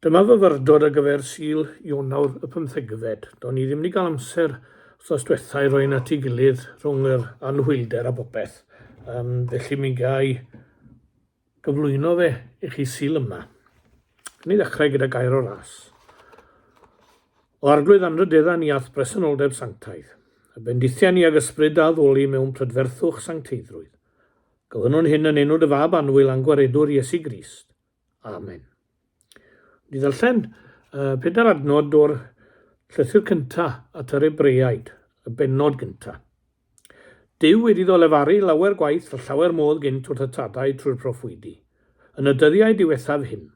Dyma fy fyrdod ar gyfer Sul, Ionawr, y pymthegfed. Do'n i ddim 'di gael amser wthnos dwetha i roi'n at ei gilydd rhwng yr anhwylder a bopeth, um, felly mi gai gyflwyno fe i chi Sul yma. Yn ei ddechrau gyda gair o ras. O arglwydd anrydedda ni ath bresenoldeb sanctaidd, y bendithiau ni ag ysbryd a ddoli mewn prydferthwch sancteiddrwydd. Gofynnwn hyn yn enw dy fab annwyl a'n gwaredwr Iesu Grist. Amen. Ni ddarllen uh, pedair adnod o'r llythyr cyntaf at yr Ebreaid, y benod gyntaf. Dyw wedi ddo lefaru lawer gwaith a llawer modd gynt wrth y tadau trwy'r proffwydi. Yn y dyddiau diwethaf hyn,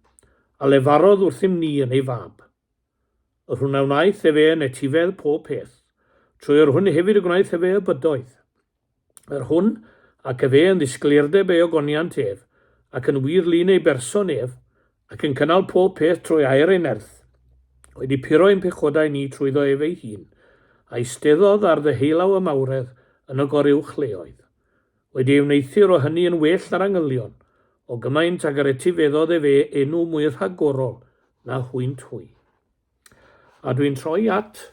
a lefarodd wrthym ni yn ei fab. Yr hwn a wnaeth efe yn etifedd pob peth, trwy yr hwn hefyd y gwnaeth efe y bydoedd. Yr hwn ac efe yn ddisgleirdeb ei ogoniant ef, ac yn wir lun ei berson ef, ac yn cynnal pob peth trwy air ei nerth, wedi puro ein pechodau ni trwyddo ef ei hun, a eisteddodd ar ddyheulau y mawredd yn y goruwch leoedd. Wedi ei wneuthur o hynny yn well na'r angylion, o gymaint ag yr etifeddodd efe enw mwy rhagorol na hwynt hwy. A dwi'n troi at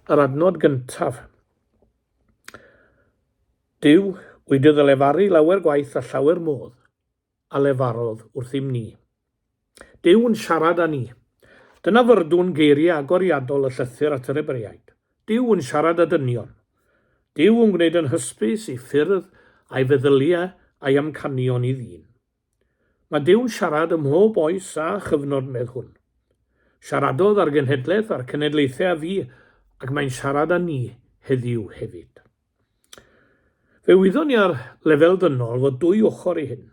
yr adnod gyntaf. Duw, wy dy ddylefaru lawer gwaith a llawer modd a lefarodd wrthym ni. Duw yn siarad â ni. Dyna fyrdwn geiriau agoriadol y llythyr at yr Ebreiaid. Duw yn siarad â dynion. Duw yn gwneud yn hysbys ei ffyrdd a'i feddyliau a'i amcanion i ddyn. Mae Duw'n siarad ym mhob oes a chyfnod medd hwn. Siaradodd â'r genhedlaeth a'r cenedlaethau a fu ac mae'n siarad â ni heddiw hefyd. Fe wyddon ni ar lefel ddynol fod dwy ochr i hyn.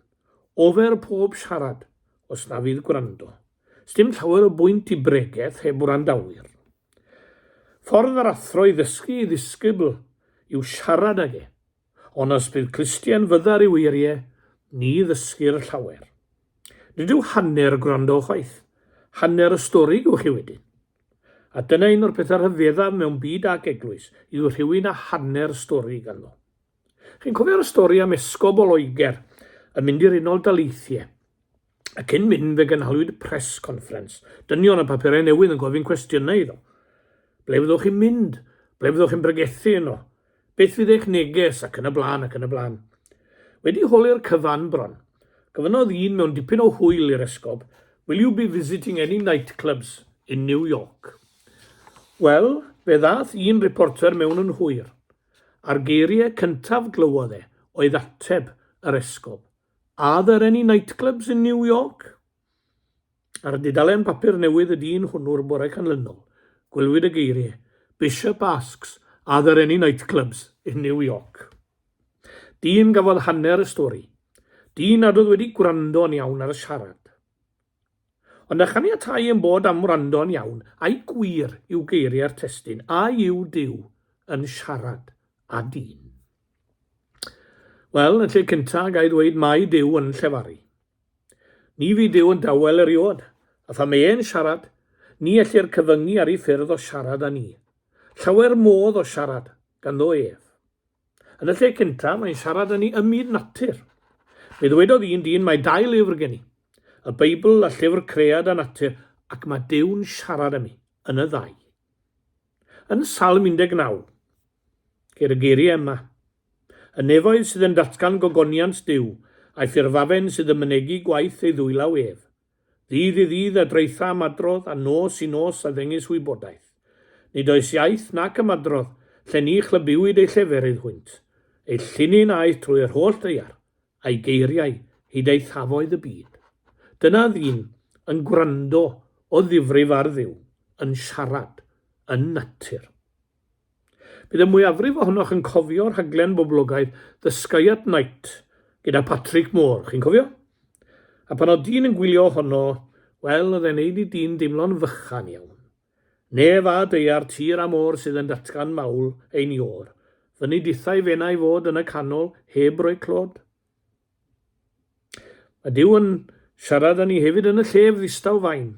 Ofer pob siarad, os na fydd gwrando. Sdim llawer o bwynt i bregeth heb wrandawyr. Ffordd yr athro i ddysgu ei ddisgybl yw siarad ag e. Ond os bydd Christian fyddar yw eirie, ni ddysgir llawer. Nid yw hanner gwrando chwaith. Hanner y stori gewch chi wedyn. A dyna un o'r pethau rhyfeddaf mewn byd ac eglwys, yw rhywun a hanner stori ganddo. Chi'n cofio'r stori am esgob o Loegr yn mynd i'r Unol Daleithiau? A cyn mynd fe gynhaliwyd press conference. Dynion a papurau newydd yn gofyn cwestiynau iddo. Ble fyddwch chi'n mynd? Ble fyddwch chi'n bregethu yno? Beth fydd eich neges ac yn y blaen ac yn y blaen. Wedi holi'r cyfan bron, gofynnodd un mewn dipyn o hwyl i'r esgob, Will you be visiting any nightclubs in New York? Wel, fe ddath un reporter mewn yn hwyr. A'r geiriau cyntaf glywodd e oedd ateb yr esgob. Are there any nightclubs in New York? Ar y dudalen papur newydd y dyn hwnnw'r bore canlynol, gwylwyd y geiriau, Bishop asks, are there any nightclubs in New York? Dyn gafodd hanner y stori. Dyn nad oedd wedi gwrando'n iawn ar y siarad. Ond a chaniatai ein bod am wrando'n iawn, ai gwir yw geiriau'r testun, a yw Duw yn siarad â dyn? Wel, yn y lle cyntaf, ga i ddweud mai Duw yn llefaru. Ni fydd Duw yn dawel eriod, a pha mae e'n siarad, ni ellir cyfyngu ar ei ffyrdd o siarad â ni. Llawer modd o siarad ganddo ef. Yn y lle cyntaf, mae'n siarad â ni ym myd natur. Fe ddwedodd un dyn, Mae dau lyfr gen i, y Beibl a llyfr Cread a Natur, ac mae Duw'n siarad â mi yn y ddau. Yn Salm 19, ceir y geiriau yma, Y nefoedd sydd yn datgan gogoniant Duw, a'i ffurfafen sydd yn mynegi gwaith ei ddwylaw ef. Ddydd i ddydd a draetha ymadrodd a nos i nos a ddengys wybodaeth. Nid oes iaith nac ymadrodd lle ni chlybiwyd ei lleferydd hwynt. Ei llinyn aeth trwy yr holl ddaear, a'i geiriau hyd eithafoedd y byd. Dyna ddyn yn gwrando o ddifrif ar Dduw, yn siarad, yn natur. Bydd y mwyafrif ohonoch yn cofio rhaglen boblogaidd The Sky at Night gyda Patrick Moore, chi'n cofio? A pan oedd dyn yn gwylio ohono, wel, oedd e'n neud i dyn deimlo'n fychan iawn. Nef a daear tir a môr sydd yn datgan mawl ein iôr, fyny dithau fenau fod yn y canol heb roi clod. Mae Duw yn siarad â ni hefyd yn y llef ddistaw fain.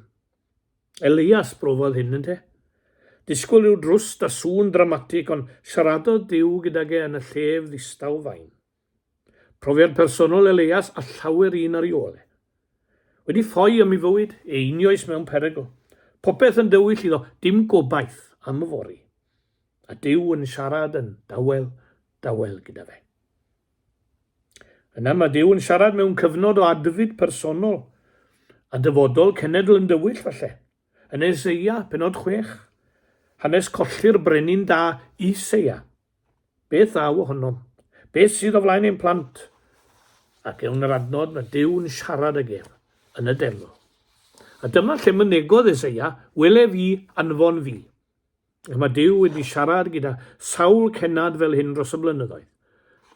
Elias brofodd hyn, ynte? Disgwyl i'w drwst a sŵn dramatig, ond siaradodd Duw gydag e yn y llef ddistaw fain. Profiad personol Elias a llawer un ar i ôl e. Wedi ffoi am i fywyd, e unioes mewn perygl. Popeth yn dywyll iddo, dim gobaith am y fori. A Duw yn siarad yn dawel, dawel gyda fe. Yna mae Duw yn siarad mewn cyfnod o adfyd personol a dyfodol cenedl yn dywyll falle. Yn Eseia, penod 6, hanes colli'r brenin da Iseia. Beth ddaw ohonom? Beth sydd o flaen ein plant? Ac ewn yr adnod mae Duw yn siarad ag ef yn y delw. A dyma lle mynegodd Eseia, wele fi, anfon fi. Ac mae Duw wedi siarad gyda sawl cennad fel hyn dros y blynyddoedd.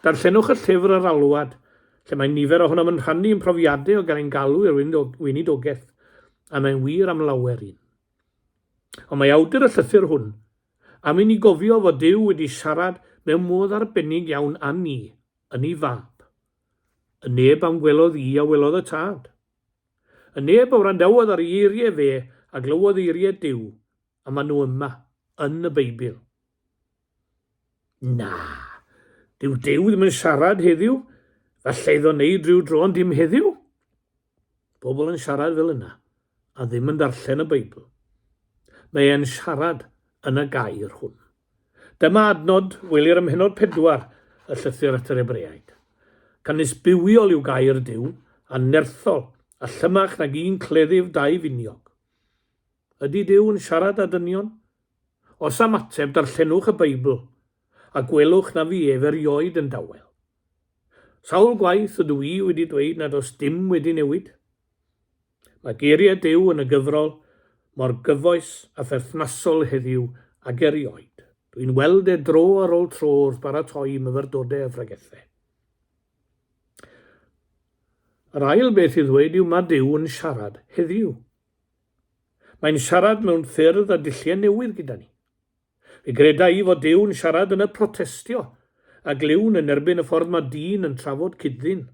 Darllenwch y llyfr Yr Alwad, lle mae nifer ohonom yn rhannu ein profiadau o gael ein galw i'r weinidogaeth, a mae'n wir am lawer un. Ond mae awdur y llythyr hwn am i ni gofio fod Duw wedi siarad mewn modd arbennig iawn â ni yn ei fab. Y neb am welodd i a welodd y Tad. Y neb a wrandawodd ar ei eiriau fe a glywodd eiriau Duw, A maen nhw yma, yn y Beibl. Na, dyw Duw ddim yn siarad heddiw, falle iddo wneud rhyw dro ond dim heddiw. Pobl yn siarad fel yna, a ddim yn darllen y Beibl. Mae e'n siarad yn y gair hwn. Dyma adnod welir ym mhenod pedwar y llythyr at yr Ebreaid. Canys bywiol yw gair Duw, a nerthol, a llymach nag un cleddyf dau finiog. Ydy Duw yn siarad â dynion? Os am ateb, darllenwch y Beibl a gwelwch na fu ef erioed yn dawel. Sawl gwaith ydw i wedi dweud nad oes dim wedi newid? Mae geiriau Duw yn y gyfrol mor gyfoes a pherthnasol heddiw ag erioed. Dwi'n weld e dro ar ôl tro wrth baratoi myfyrdodau a phregethau. Yr ail beth i ddweud yw mae Duw yn siarad heddiw. Mae'n siarad mewn ffyrdd a dulliau newydd gyda ni. Fe greda i fod Duw yn siarad yn y protestio a glywn yn erbyn y ffordd mae dyn yn trafod cyd-ddyn.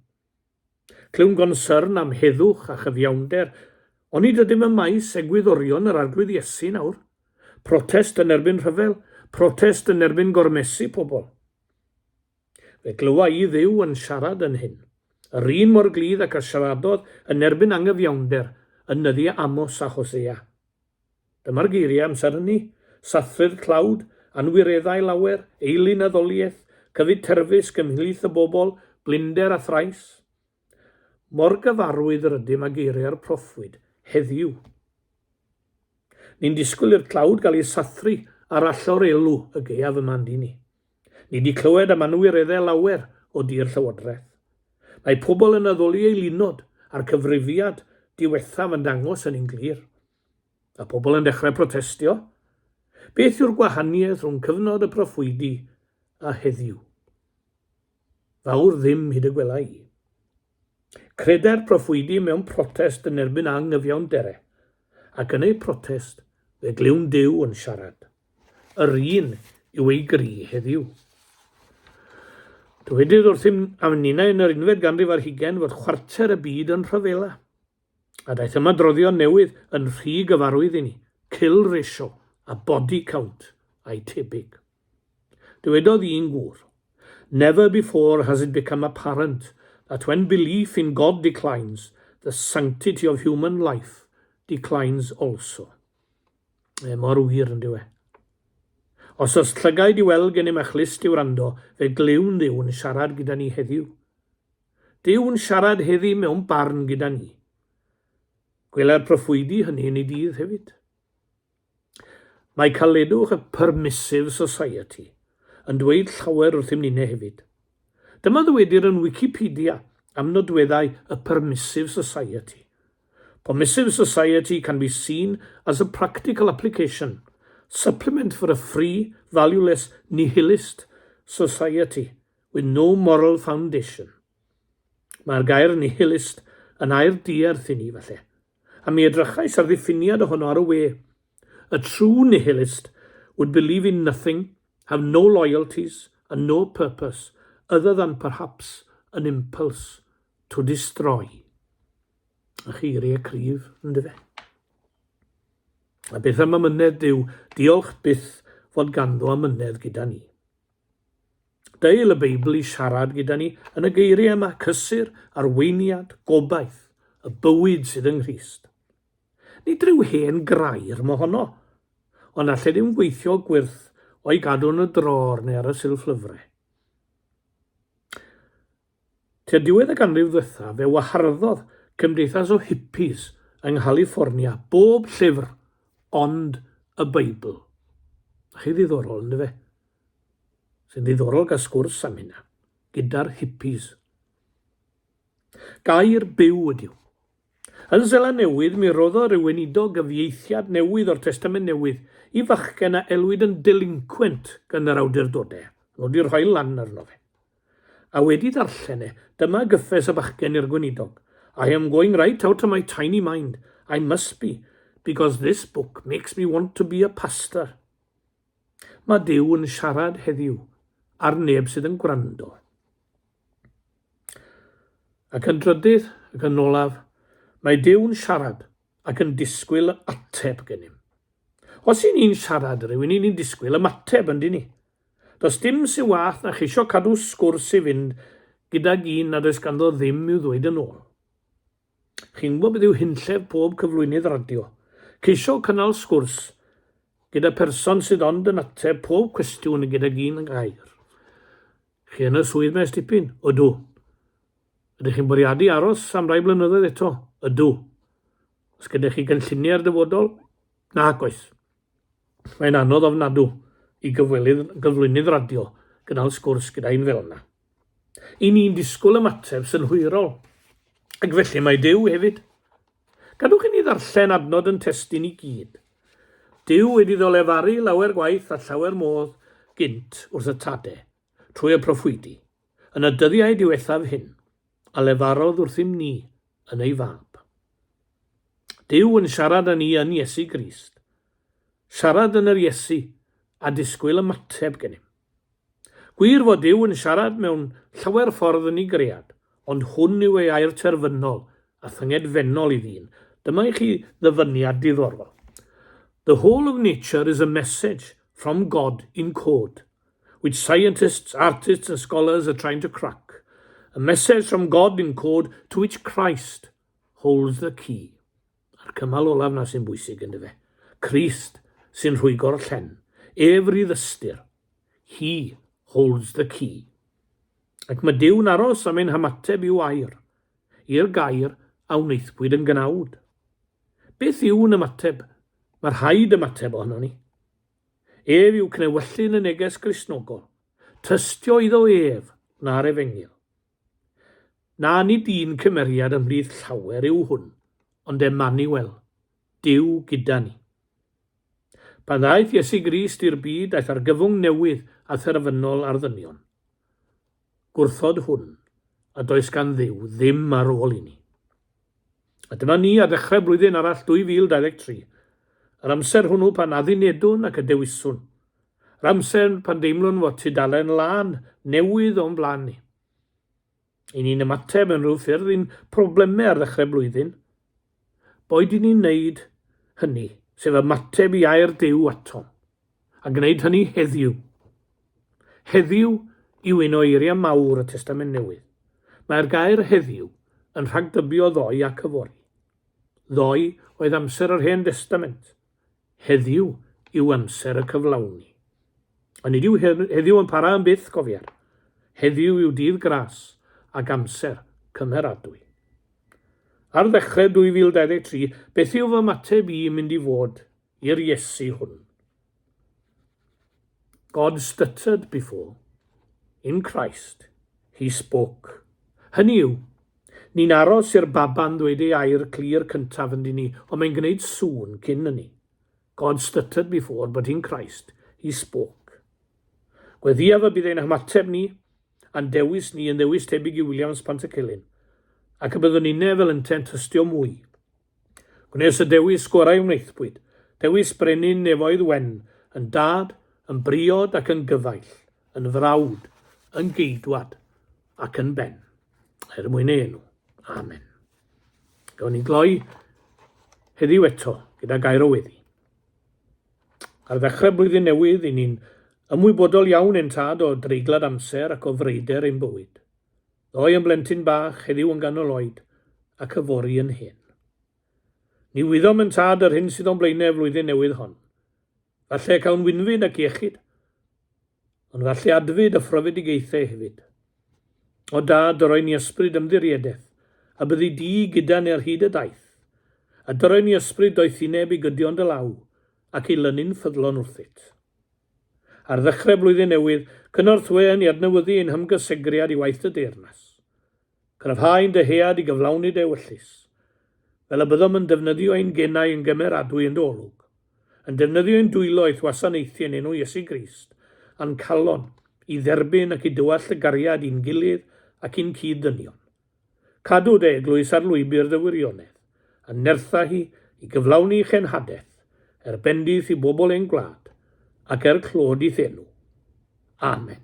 Clywn gonsyrn am heddwch a chyfiawnder, onid ydym ym maes egwyddorion yr Arglwydd Iesu nawr? Protest yn erbyn rhyfel, protest yn erbyn gormesu pobl. Fe glywa i Dduw yn siarad yn hyn, yr un mor gludd ac a siaradodd yn erbyn angyfiawnder yn nyddiau Amos a Hosea. Dyma'r geiriau amser hynny, Sathru'r tlawd, anwireddau lawer, eilun a ddoliaeth, cyfyd terfysg ymhlith y bobl, blinder a thrais. Mor gyfarwydd rydym â geiriau'r proffwyd heddiw. Ni'n disgwyl i'r tlawd gael ei sathru ar allor elw y gaeaf yma yndyn ni. Ni wedi clywed am anwireddau lawer o dir Llywodraeth. Mae pobl yn addoli ei lunod a'r cyfrifiad diwethaf yn dangos hynny'n glir. Mae pobl yn dechrau protestio. Beth yw'r gwahaniaeth rhwng cyfnod y proffwydi a heddiw? Fawr ddim hyd y gwela i. Credai'r proffwydi mewn protest yn erbyn anghyfiawnder e, ac yn eu protest fe glywn Duw yn siarad. Yr un yw ei gri heddiw. Dywedodd wrthym am ninnau yn yr unfed ganrif ar hugain fod chwarter y byd yn rhyfela. A daeth ymadroddion newydd yn rhy gyfarwydd i ni, kill ratio a body count a'i tebyg. Dywedodd un gŵr, Never before has it become apparent that when belief in God declines, the sanctity of human life declines also. Mae mor wir yn diwe. Os oes llygaid i weld gennym a chlust i wrando, fe glywn Dduw yn siarad gyda ni heddiw. Dyw yn siarad heddi mewn barn gyda ni. Gwelai'r proffwydi hynny yn ei dydd hefyd. Mae Caledwch a Permissive Society yn dweud llawer wrthym ninne hefyd. Dyma ddywedir yn Wikipedia am nodweddau y Permissive Society. Permissive Society can be seen as a practical application, supplement for a free, valueless, nihilist society with no moral foundation. Mae'r gair nihilist yn air diarth i ni, falle. a mi edrychais ar ddiffiniad ohono ar y we, A true nihilist would believe in nothing, have no loyalties and no purpose other than perhaps an impulse to destroy. A cheirie cryf, yndyfe? A beth am amynedd Duw, diolch byth fod ganddo amynedd gyda ni. Deil y Beibl i siarad gyda ni yn y geiriau yma, cysur, arweiniad, gobaith, y bywyd sydd yng Nghrist. Nid rhyw hen grair mo honno, ond allai ddim gweithio gwyrth o'i gadw yn y dror neu ar y silff lyfrau. Tua diwedd y ganrif ddwythaf fe waharddodd cymdeithas o hippies yng Nghaliffornia bob llyfr ond y Beibl. A chi ddiddorol, yn dyfe? Sy'n ddiddorol gael sgwrs am hynna, gyda'r hippies. Gair byw ydyw. Yn Seland Newydd, mi roddodd rhywun iddo gyfieithiad newydd o'r Testament Newydd i fachgen a elwyd yn delinquent gan yr awdurdodau, nod i rhoi lan arno fe. A wedi darllen e, dyma gyffes y bachgen i'r gweinidog, I am going right out of my tiny mind, I must be, because this book makes me want to be a pastor. Mae Duw yn siarad heddiw, ar neb sydd yn gwrando. Ac yn drydydd, ac yn olaf, mae Duw yn siarad ac yn disgwyl ateb gennym. Os i ni'n siarad rhywun, i ni'n disgwyl ymateb, yndyn ni? Does dim sy wath na cheisio cadw sgwrs i fynd gydag un nad oes ganddo ddim i'w ddweud yn ôl. Chi'n gwybod beth yw hunllef pob cyflwynydd radio? Ceisio cynnal sgwrs gyda pherson sydd ond yn ateb pob cwestiwn gydag un gair. Chi yn y swydd maes dipyn? Ydw. Ydych chi'n bwriadu aros am rai blynyddoedd eto? Ydw. Os gyda chi gynlluniau'r dyfodol? Nac oes. Mae'n anodd ofnadw i gyfwelydd, gyflwynydd radio, gynnal sgwrs gyda un fel yna. I ni'n disgwyl ymateb synhwyrol, ac felly mae Duw hefyd. Gadwch i ni ddarllen adnod yn testun i gyd. Duw wedi ddolefaru lawer gwaith a llawer modd gynt wrth y tade, trwy y proffwydi, Yn y dyddiau diwethaf hyn, a lefarodd wrthym ni yn ei fab. Duw yn siarad â ni yn Iesu Grist. Siarad yn yr Iesu a disgwyl ymateb gennym. Gwir fod Duw yn siarad mewn llawer ffordd yn ei gread, ond hwn yw ei air terfynol a thyngedfennol i ddyn. Dyma i chi ddyfyniad diddorol. The whole of nature is a message from God in code, With scientists, artists and scholars are trying to crack A message from God in code to which Christ holds the key A'r cymal olaf 'na sy'n bwysig yn dyfe? Christ sy'n rhwygo'r llen Ef rydd ystyr He holds the key Ac mae Duw'n aros am ein hamateb i'w air I'r gair a wnaethpwyd yn gnawd Beth yw'n ymateb? Mae rhaid ymateb ohonon ni. Ef yw cnewyllyn y neges Gristnogol. Tystio iddo ef, na'r efengyl. Na, nid un cymeriad ymhlith llawer yw hwn, ond Emmanuel, Duw gyda ni. Pan ddaeth Iesu Grist i'r byd, daeth argyfwng newydd a therfynol ar ddynion. gwrthod hwn, a does gan Dduw ddim ar ôl i ni. A dyma ni ar ddechrau blwyddyn arall 2023, yr amser hwnnw pan addunedwn ac y dewiswn, yr amser pan deimlwn fod tudalen lân newydd o'n blaen ni. I ni'n ymateb yn rhyw ffyrdd i'n problemau ar ddechrau blwyddyn, boed i ni'n wneud hynny, sef ymateb i air Duw atom, a gwneud hynny heddiw. Heddiw yw un o eiriau mawr y Testament Newydd. Mae'r gair heddiw yn rhagdybio ddoe ac yfory. Ddoe oedd amser yr Hen Destament. Heddiw yw amser y cyflawni. Ond nid yw heddiw yn para am byth, cofier. Heddiw yw dydd gras ac amser cymeradwy. Ar ddechrau 2023, beth yw fy mateb i mynd i fod i'r Iesu hwn. God stuttered before, in Christ, he spoke. Hynny yw, ni'n aros i'r baba'n ddweud ei air clir cyntaf yn ni, ond mae'n gwneud sŵn cyn hynny. God stuttered before, but in Christ, he spoke. Gweddiaf y bydd ein hymateb ni a'n dewis ni yn ddewis tebyg i Williams Pantycelyn, ac y byddwn inne fel ynte'n tystio mwy Gwnes y dewis gorau wnaethpwyd, dewis brenin nefoedd wen, yn dad, yn briod ac yn gyfaill, yn frawd, yn geidwad ac yn ben, er mwyn ei enw. Amen. Gawn ni gloi heddiw eto gyda gair o weddi. Ar ddechrau blwyddyn newydd, i ni'n ymwybodol iawn yn tad o dreiglad amser ac o freider ein bywyd. Ddoe yn blentyn bach, heddiw yn ganol oed, ac yfory yn hen. Ni wyddom yn tad yr hyn sydd o'n blaenau y flwyddyn newydd hon. Falle y cawn winfyd ac iechyd, ond falle adfyd a phrofedigaethau hefyd. O dad, dyroi ni ysbryd ymddiriedeth, a byddi di gyda ni ar hyd y daith, a dyroi ni ysbryd doethineb i gydio yn dy law, ac i lynu'n ffyddlon wrthyt. Ar ddechrau Blwyddyn Newydd, cynorthwyon i adnewyddu ein hymgysegriad i waith y Deyrnas. Cryfhau ein dyhead i gyflawni dy ewyllys. Fel y byddom yn defnyddio ein genau yn gymeradwy yn dy olwg. Yn defnyddio ein dwylo i'th wasanaethu yn enw Iesu Grist, a'n calon i dderbyn ac i dywallt y gariad i'n gilydd ac i'n cyd-ddynion. Cadw dy eglwys ar lwybr dy wirionedd, a nertha hi i gyflawni chenhadaeth, er bendith i bobl ein gwlad, ac er clod i'th enw. Amen.